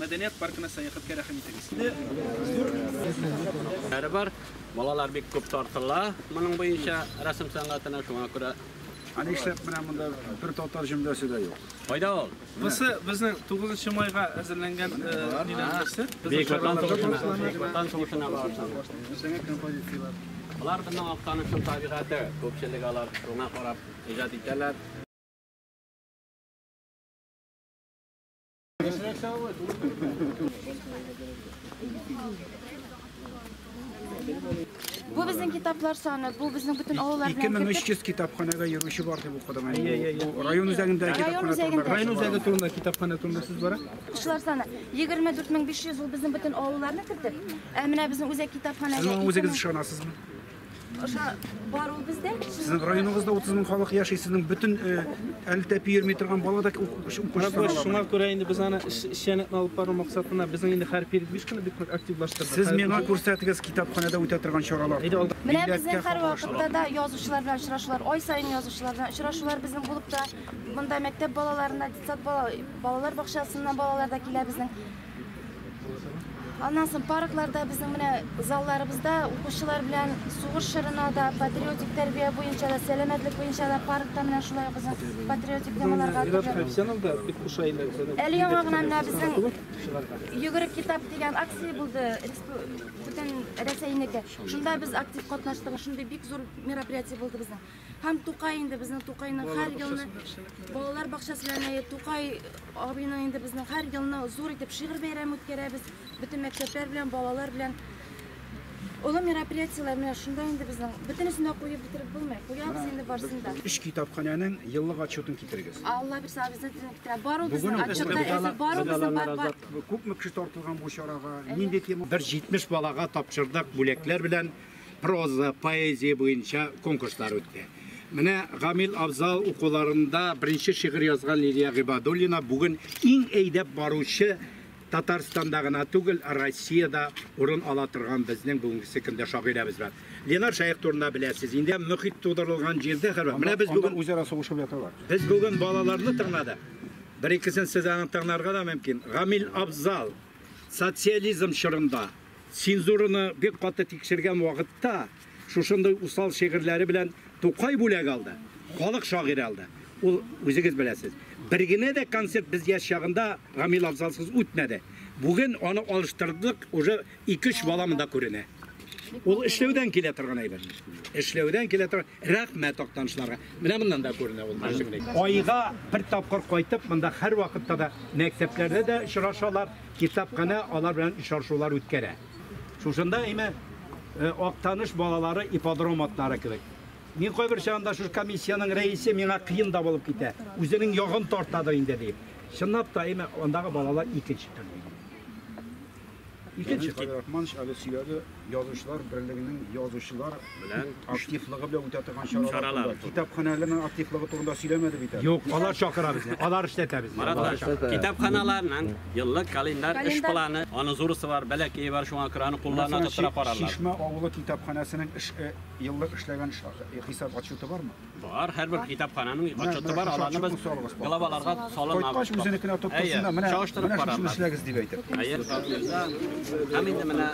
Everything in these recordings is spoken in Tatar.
Мәдәният паркына сәяхәткә рәхим итегез. Барыбер балалар бик күп тартыла моның буенча рәсем сәнгатенә, шуңа күрә. Ә нишләп менә монда бер татар җөмләсе дә юк? Кайда ул? Бусы безнең 9 майга әзерләнгән дигән нәрсә. Бөек Ватан сугышына, Бөек Ватан сугышына багышланган. Алар безнең Актанышның табигате, күпчелек алар шуңа карап иҗат итәләр. Бу безнең китаплар саны, бу безнең бөтен авыллар белән кертеп. 2300 китапханәгә йөрүче бар дип укыдым. Бу район үзәгендә китапханә турында. Район үзәге турында китапханә турында сүз бара. Кешеләр саны 24500 ул безнең бөтен авылларны кертеп. Ә менә безнең үзәк китапханәгә. Сез үзегез ышанасызмы? аша бар ул бездә. Сезнең районыгызда 30 мең халык яши, сезнең бөтен әлтәп йөрми торган бала да укучылар. Шуңа күрә инде без аны эшчәнлекне алып бару максатына безнең инде һәр период биш кенә бик активлаштырдык. Сез миңа күрсәтегез китапханәдә үтә торган чаралар. Менә безнең һәр вакытта да язучылар белән очрашулар, ай саен язучылар белән очрашулар безнең булып та, монда мәктәп балаларына, детсад балалар бакчасыннан балалар да килә безнең. Аннан соң паркларда безнең менә залларыбызда укучылар белән сугыш чорына да, патриотик тәрбия буенча да, сәламәтлек буенча да паркта менә шулай ук патриотик темаларга Әле яңа гына менә безнең йөгерек китап дигән акция булды. Бөтен Рәсәйнеке. Шунда без актив катнаштык. Шундый бик зур мероприятие булды безнең. Һәм Тукай инде безнең Тукайның һәр елны балалар бакчасы янында Тукай абыйның инде безнең һәр елны зур итеп шигырь бәйрәме үткәрәбез. Бөтен мәктәпләр белән, балалар белән Олы мероприятиеләр менә шунда инде безнең. Бөтенесен дә куеп бетереп булмый. Куябыз инде барысын да. Өч китапханәнең еллык отчетын китерегез. Алла бирсә, обязательно китерә. Бар ул безнең отчетта әзер, бар ул безнең бар бар. Күпме кеше тартылган бу чарага? Нинди тема? Бер 70 балага тапшырдык бүләкләр белән. проза, поэзия буенча конкурслар үтте. Менә Гамил Абзал укуларында беренче шигырь язган Лилия Гыйбадуллина бүген иң әйдәп баручы Татарстанда гына түгел, Россиядә урын ала торган безнең бүгенгесе көндә шагыйрәбез бар. Ленар Шаяк турында беләсез. Инде мөхит тудырылган җирдә хәбәр. Менә без бүген үзара сугышып яталар. Без бүген балаларны тыңладык. Бер икесен сезгә тыңларга да мөмкин. Гамил Абзал социализм чорында Цензураны бик каты тикшергән вакытта шушындый усал шигырьләре белән Тукай бүләк алды, халык шагыйре алды. Ул, үзегез беләсез, бер генә дә концерт без яшь чагында Гамил Афзалсыз үтмәде. Бүген аны алыштырдык, уже ике-өч бала монда күренә. Ул эшләүдән килә торган әйбер. Эшләүдән килә торган. Рәхмәт актанышларга. Менә моннан да күренә ул. Айга бер тапкыр кайтып, монда һәрвакытта да мәктәпләрдә дә очрашалар. Китапханә алар белән очрашулар үткәрә. Шушында, әйме, Актаныш балалары ипподром атлары кебек. Мин кайбер чагында шушы комиссиянең рәисе миңа кыен да булып китә, үзенең ягын тартадыр инде диеп. Чынлап та, әйме, андагы балалар икенче төрле. Икенче. Рахманович әле сөйләде. Язучылар берлегенең язучылар белән активлыгы белән үтә торган чаралар. Китапханәләрнең активлыгы турында сөйләмәде бит әле. Юк, алар чакыра безне. Алар эшләтә безне. Марат, китапханаларның еллык календарь эш планы, аны зурысы бар, бәләкәе бар, шуңа күрә аны кулларына тоттыра карарлар. Чишмә авылы китапханәсенең эш еллык эшләгән хисап отчеты бармы? Бар, һәрбер китапхананың отчеты бар, аларны без главаларга салынабыз. Кайткач үзенекенә тоткасын да, менә менә шуны эшләгез дип әйтеп. Әйе, һәм инде менә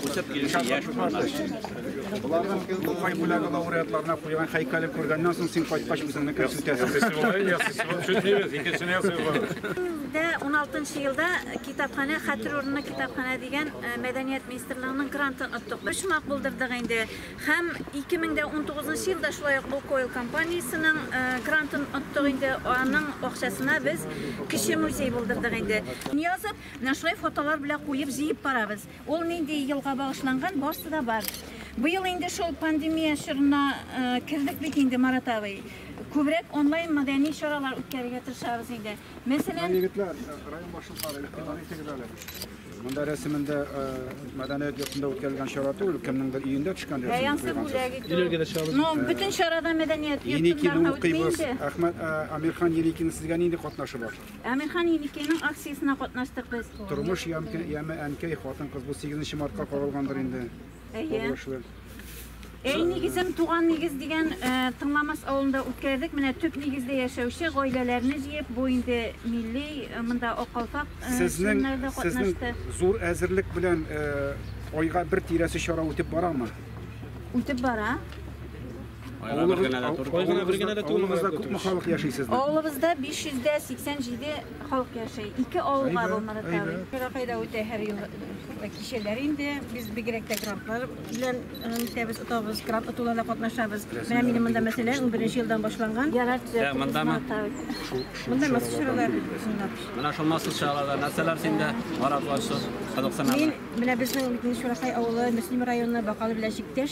үсеп килүче яшь буыннар. Боларның Тукай бүләге лауреатларына куйган һәйкәлен күргәннән соң син кайткач үзеңнекен сүтәсең. Бездә 16 елда китапханә хәтер урыны китапханә дигән мәдәният министрлыгының грантын оттык. Почмак булдырдык инде. Һәм 2019 нчы елда шулай ук Лукойл компаниясенең грантын оттык инде, аның акчасына без кече музей булдырдык инде. Язып, менә шулай фотолар белән куеп, җыеп барабыз. Ул нинди елга багышланган, барсы да бар. Быел инде шул пандемия чорына кердек бит инде, Марат абый. Күбрәк онлайн мәдәни чаралар үткәрергә тырышабыз инде. Мәсәлән, егетләр, район башлыклары, игътибар итегез әле. Монда рәсемендә э, мәдәният йортында үткәрелгән чара түгел, кемнеңдер өендә төшкән рәсем. Бәянсы бүләк итү. Ну, бөтен чарада мәдәният Еникины йортында үтми укыйбыз. инде. Әхмәт э, Амирхан Еникины сезгә нинди катнашы бар? Әмирхан Еникинең акциясенә катнаштык без. Тормыш ямке- яме әнкәй, хатын-кыз бу 8 мартка кагылгандыр инде. Әйе. Әй нигезем туган нигез дигән э, Тыңламас авылында үткәрдек. Менә төп нигездә яшәүче гаиләләрне җыеп, бу инде милли э, монда акалфак э, сезнең чыннарда сезнең катнашты. зур әзерлек белән э, айга бер тирәсе чара үтеп барамы? Үтеп бара. Авылыгызда күпме халык яши сезнең? Авылыбызда 587 халык яши. Ике авылга булмады тәби. Кайда үтә һәр ел кичәләр инде. Без бигрәк тә грантлар белән үтәбез, тотабыз, грант тотуларда катнашабыз. Менә минем монда мәсәлә 11 елдан башланган. Монда ма? Монда мәсәлә чаралар. Менә шул мәсәлә чараларда нәрсәләр синдә маратлашып, кызыксынасың? Мин менә безнең Митнеш Шурахай авылы, Мөслим районы, Бакалы белән чиктәш.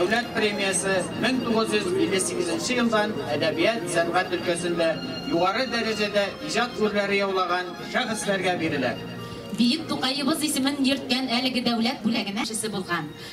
Дәүләт премиясе 1958 елдан әдәбият, сәнгать өлкәсендә югары дәрәҗәдә иҗат күрләре яулаган шәхесләргә бирелә. Биек Тукаебыз исемен йөрткән әлеге дәүләт бүләгенә шесе булган.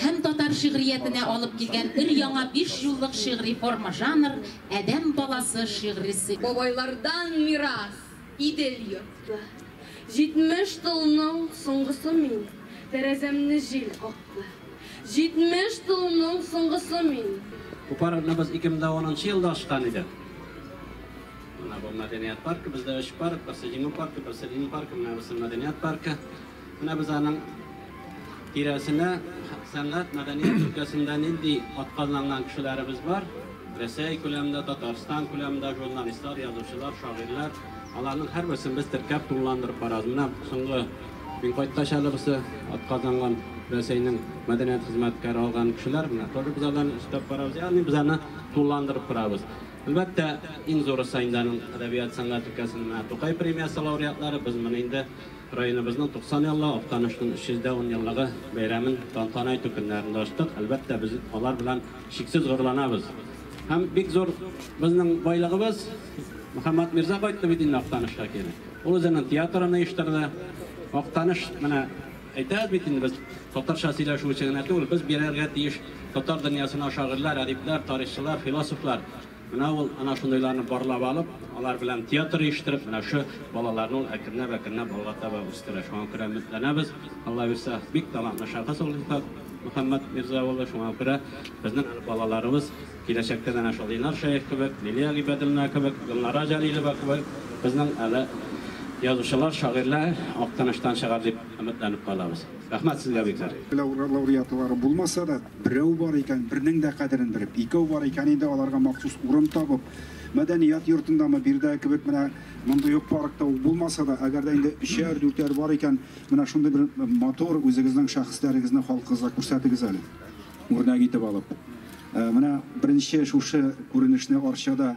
һәм татар шигъриятенә алып килгән өр-яңа биш юллык шигъри форма жанр, Адәм баласы шигърисе. Бабайлардан мирас, Идел йортлы. Җитмеш толның соңгысы мин, Тәрәзәмне җил какты. Җитмеш толның соңгысы мин. Бу парадны без 2010 нчы елда ачкан идек. Менә бу мәдәният паркы, бездә өч парк, берсе Җиңү паркы, берсе Ленин паркы, менә берсе мәдәният паркы. Менә без аның тирәсенә сәнгать, мәдәният өлкәсендә нинди атказанган кешеләребез бар, Рәсәй күләмендә, Татарстан күләмендә журналистлар, язучылар, шагыйрьләр, аларның һәрберсен без теркәп, тулыландырып барабыз. Менә соңгы мин кайткач әле берсе атказанган Рәсәйнең мәдәният хезмәткәре алган кешеләр, менә тоже без аларны өстәп барабыз. Ягъни без аны тулыландырып барабыз. Әлбәттә, иң зурысы инде аның әдәбият, сәнгать өлкәсендә менә Тукай премиясе лауреатлары, без моны инде Районыбызның 90 еллыгы, Актанышның 310 еллыгы бәйрәмен тантана итү көннәрендә ачтык. Әлбәттә, без алар белән чиксез горурланабыз. Һәм бик зур безнең байлыгыбыз, Мөхәммәт Мирза кайтты бит инде Актанышка кире. Ул үзенең театрын оештырды. Актаныш, менә әйтәбез бит инде без, татарча сөйләшү өчен генә түгел, без бирергә тиеш татар дөньясына шагыйрьләр, әдипләр, тарихчылар, философлар. Менә ул ана шундыйларны барлап алып, алар белән театр оештырып, менә шу балаларны ул әкренләп әкренләп алга таба үстерә. Шуңа күрә өметләнәбез. Алла бирса, бик талантлы шәхес ул Илфат Мөхәммәт Мирза улы. Шуңа күрә безнең әле балаларыбыз киләчәктә дә әнә шул Линар Шәех кебек, Лилия Гыйбәдуллина кебек, Гөлнара Җәлилова кебек безнең әле язучылар, шагыйрьләр Актаныштан чыгар дип. Өметләнеп калабыз. Рәхмәт сезгә бикләр. Лауреатлары булмаса да, берәү бар икән, бернең дә кадерен белеп, икәү бар икән инде, аларга махсус урын табып, мәдәният йортындамы, биредәге кебек менә мондый ук паркта ук булмаса да, әгәр дә инде өчәр, дүртәр бар икән, менә шундый бер матур үзегезнең шәхесләрегезне халкыгызга күрсәтегез әле, үрнәк итеп алып. Менә беренче шушы күренешне Арчада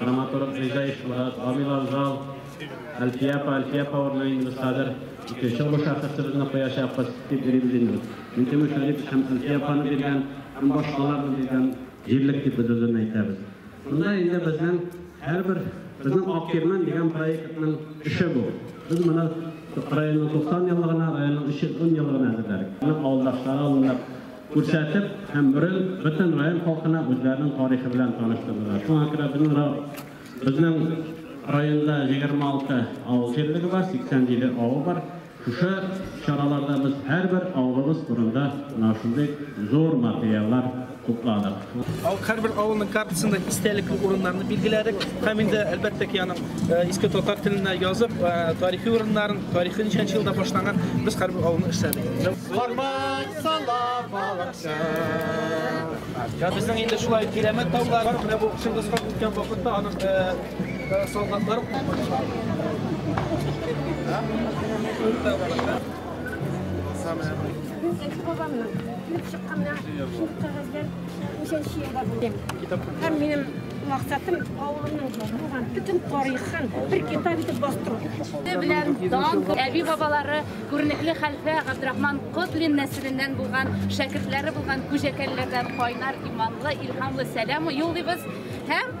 Драматург Гыйзаев Мурат, Камил Анжал, Әлфия апа, Әлфия апа урынына инде без хәзер икенче олы шәхесебезне куячакбыз, дип уйлыйбыз инде. Минтимер Шәрипович һәм Әлфия апаны биргән һәм башкаларны биргән җирлек дип без үзен әйтәбез. Монда инде безнең һәрбер безнең Ак кирмән дигән проектның эше бу. Без моны районның 90 еллыгына, районның 310 еллыгына әзерләдек. Аның авылдашлары алынып, Күрсәтеп һәм рын бөтен район халкына үзләренең тарихы белән таныштырдылар. Шуңа күрә безнең ра, безнең районда 26 авыл җирлеге бар, 87 авыл бар. Шушы чараларда без һәрбер авылыбыз турында менә шундый зур материаллар тупладык. Һәрбер авылның картасында истәлекле урыннарны билгеләдек. Һәм инде әлбәттә ки аның иске татар телендә язып, тарихи урыннарын, тарихи ничәнче елда башланган без һәрбер авылны эшләдек. Бармак салам балыкчы. Һәм безнең инде шулай кирәмәт таулар, менә бу Чыңгыз хан үткән вакытта аның солдатлары Икенче бабамның килеп чыкканнан шул кәгазьләр ничәнче елда булды. Һәм минем максатым авылымның булган бөтен тарихын бер китап итеп бастыру. Белән дан әби бабалары күренекле хәлфә Габдрахман Котлин нәселеннән булган шәкертләре булган күҗәкәлләрдән кайнар иманлы, илһамлы сәлам юллыйбыз һәм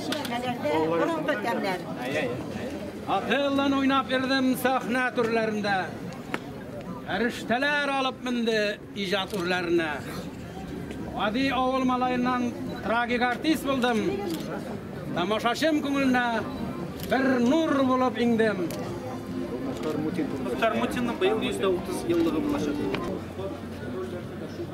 Чишмәләрдә борынгы тәмнәр. Акыллан уйнап йөрдем сәхнә түрләрендә. Фәрештәләр алып менде иҗат үрләренә. Гади авыл малаеннан трагик артист булдым. Тамашачым күңеленә бер нур булып иңдем. Мухтар Мутинның быел 130 еллыгы булачак.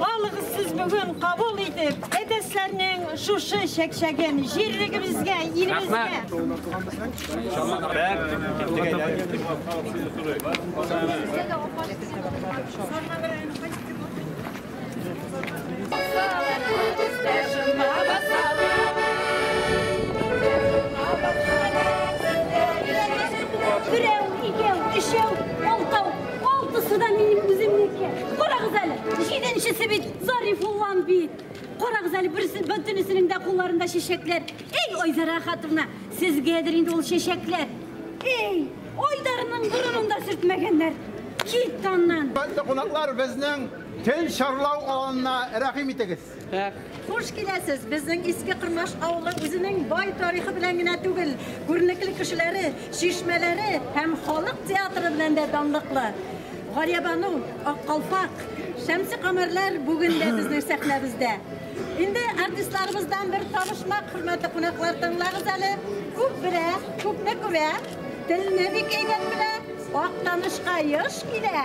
Балыгыз сез бүген кабул итеп, әтәсләрнең шушы чәкчәген җирлегебезгә, илебезгә. Берәү, икәү, өчәү, алтау. Алтысы да минем үземнеке. Карагыз әле, җиденчесе бит Зарифуллан бит. Карагыз әле, берсе бөтенесенең дә кулларында чәчәкләр. Эй, Айзара хатыны, сезгәдер инде ул чәчәкләр. Эй, Айдарның борынында сөртмәгәннәр. Кит аннан. Хөрмәтле кунаклар, безнең төн шарлау аланына рәхим итегез. Хуш киләсез! Безнең Иске Кырмаш авылы үзенең бай тарихы белән генә түгел, күренекле кешеләре, чишмәләре һәм халык театры белән дә данлыклы. Галиябану, Аккалфак, Шәмсе Камәрләр бүген дә безнең сәхнәбездә. Инде артистларыбыздан бер табышмак, хөрмәтле кунаклар, тыңлагыз әле. Күп белә, күпне күрә, телне бик әйбәт белә, Актанышка еш килә.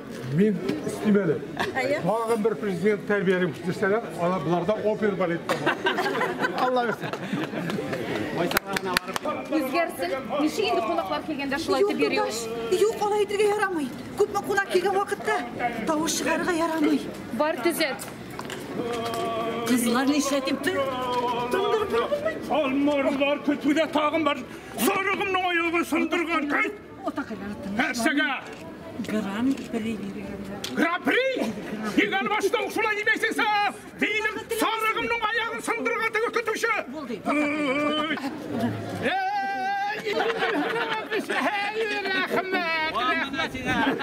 Мин истим әле. Тагын бер президент тәрбиялим дисәләр, ана буларда опер балет. Алла бирсен. Үзгәрсен. Ничек инде кунаклар килгәндә шулай итеп йөри ул? Юк, алай итергә ярамый. Күпме кунак килгән вакытта тавыш чыгарырга ярамый. Бар төзәт. Кызлар нишләтим? Тындырып булмый. Алмарлар көтүдә тагын бар. Сарыгымның аягы сындырган. Кайт! Нәрсәгә? Гран при Гран при? Ник алмаштың шулай димәйсең сә? Минем сарыгымның аяғын сындырырга теге көтүче. Булды.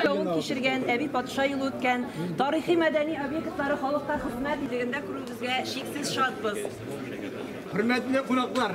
Яуын кичергән, әби патша юлы үткән, тарихи мәдәни объектлары халыкка хезмәт итлегендә күрүебезгә чиксез шатбыз. Хөрмәтле кунаклар,